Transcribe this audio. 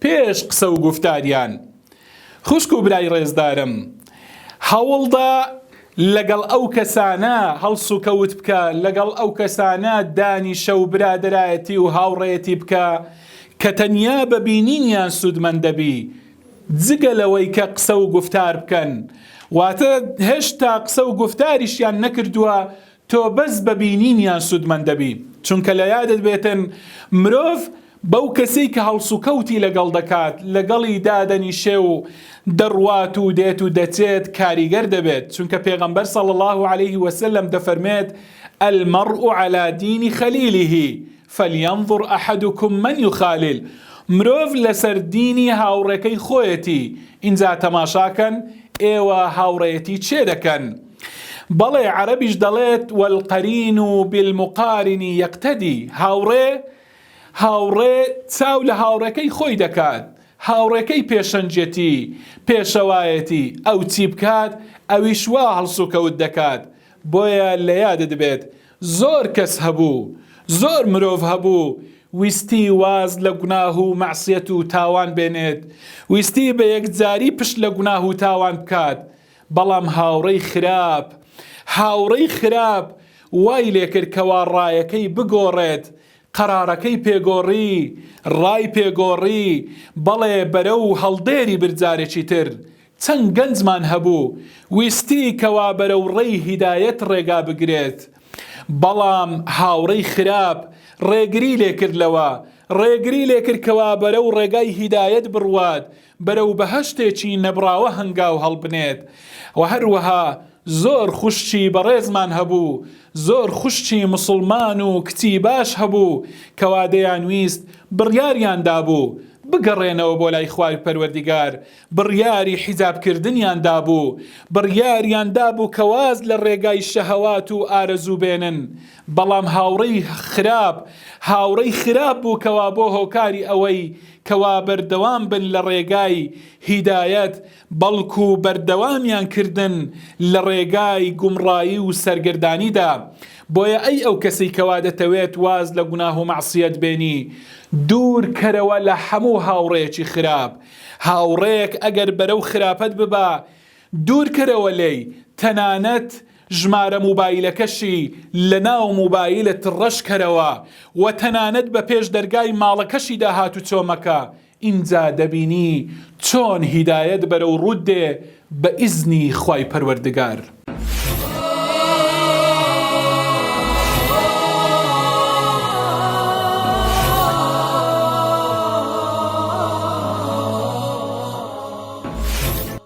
پێش قسە و گوفتاریان خوشک و برای ڕێزدارم هەوڵدە لەگەڵ ئەو کەسانە هەڵسوکەوت بکە، لەگەڵ ئەو کەسانە دانیشە و برادەرایەتی و هاوڕێیەتی بکە کە تەنیا بە بینینیان سوودمەند دەبی، جگە لەوەی کە قسە و گوفتار بکەن، واتە هێشتا قسە و گوفتاریشیان نەکردووە تۆ بەس بە بینینیان سوودمەند دەبی، چونکە لە یادت بێتن مرۆڤ بەو کەسەی کە هەڵسوکەوتی لەگەڵ دەکات، لەگەڵی دادەنیشێ و دەڕوات و دێت و دەچێت کاریگەر دەبێت، چونکە پێغەمبەر صلی اللە علیه وسلم دەفەرمێت، المرء علی دین خلیله فلینظر احدکم من یخالل، مرۆڤ لەسەر دینی هاوڕێکەی خۆیەتی، ئینجا تەماشاکەن ئێوە هاوڕێیەتی کێ دەکەن؟ بەڵێ عەرەبیش دەڵێت والقرین بالمقارن یقتدی هاوڕێ هاوڕێ چاو لە هاوڕێکەی خۆی دەکات هاوڕێکەی پێشەنجەتی پێشەوایەتی ئەو چی بکات ئەویش وا هەڵسوکەوت دەکات بۆیە لە یادت بێت زۆر کەس هەبوو زۆر مرۆڤ هەبوو ویستی واز لە گوناه و مەعسیەت و تاوان بێنێت ویستی بە یەکجاری پشت لە گوناه و تاوان بکات بەڵام هاوڕێی خراپ، هاوڕێی خراپ وای لێکرد کەوا ڕایەکەی بگۆڕێت، قەرارەکەی پێگۆڕی، ڕای پێگۆڕی، بەڵێ بەرەو هەڵدێری برد جارێکی تر چەند گەنجمان هەبوو ویستی کەوا بەرەو ڕێی هیدایەت ڕێگا بگرێت بەڵام هاوڕێی خراپ ڕێگری لێکرد لەوە، ڕێگری لێکرد کەوا بەرەو ڕێگای هیدایەت بڕوات، بەرەو بەهەشتێکی نەبڕاوە هەنگاو هەڵبنێت و هەروەها زۆر خوشکی بەڕێزمان هەبوو زۆر خوشکی موسڵمان و کچی باش هەبوو کەوا دەیانویست بڕیاریان دابوو بگەڕێنەوە بۆ لای خوای پەروەردیگار بڕیاری حیجاب کردنیان دابوو بڕیاریان دابوو کە واز لە ڕێگای شەهەوات و ئارەزوو بێنن بەڵام هاوڕێی خراپ هاوڕێی خراپ بوو کەوا بۆ هۆکاری ئەوەی کەوا بەردەوام بن لە ڕێگای هیدایەت بەڵکو بەردەوامیان کردن لە ڕێگای گومڕایی و سەرگەردانیدا بۆیە ئەی ئەو کەسەی کەوا دەتەوێت واز لە گوناه و مەعسیەت بێنی دوور کەرەوە لە هەموو هاوڕێیەکی خراپ هاوڕێیەک ئەگەر بەرەو خراپەت ببا دوور کەرەوە لێی تەنانەت ژمارە موبایلەکەشی لە ناو موبایلت ڕەش کەرەوە و تەنانەت بە پێش دەرگای ماڵەکەشیدا هاتوچۆ مەکە ئینجا دەبینی چۆن هیدایەت بەرەو ڕووت دێ بە ئیزنی خوای پەروەردگار.